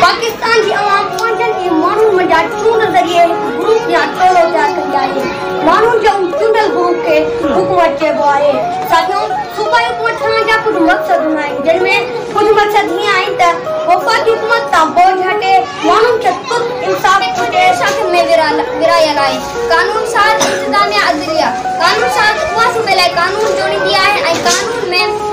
پاڪستان جي عوام پنهنجن ئي ماڻهن منجهان چونڊ ذريعي هڪ گروپ يا ٽولو تيار ڪندي آهي. ماڻهن جي ان چونڊيل گروپ کي حڪومت چئبو آهي. ساٿيو! صوبائي حڪومت ٺهڻ جا ڪجهه مقصد هوندا آهن، جن ۾ ڪجهه مقصد هيئن آهن ته وفاقي حڪومت تان بوجهه هٽي، ماڻهن کي ترت انصاف پهچي، شاخن ۾ ورهايل آهي، قانون ساز، انتظاميا، عدليا، قانون ساز اها صوبي لاء قانون جوڙيندي آهي ۽ قانون ۾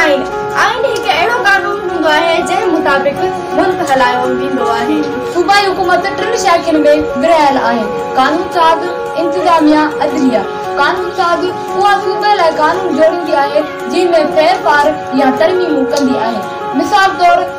آئين، آئين هڪ اهڙو قانون هوندو آهي جنهن مطابق ملڪ هلايو ويندو آهي. صوبائي حڪومت ٽن شاخين ۾ ورهايل آهي، قانون ساز، انتظاميه، عدليه. قانون ساز، اها صوبي لاء قانون جوڙيندي آهي، جنهن ۾ ڦيرڦار يا ترميمون ڪندي آهي. مثال طور.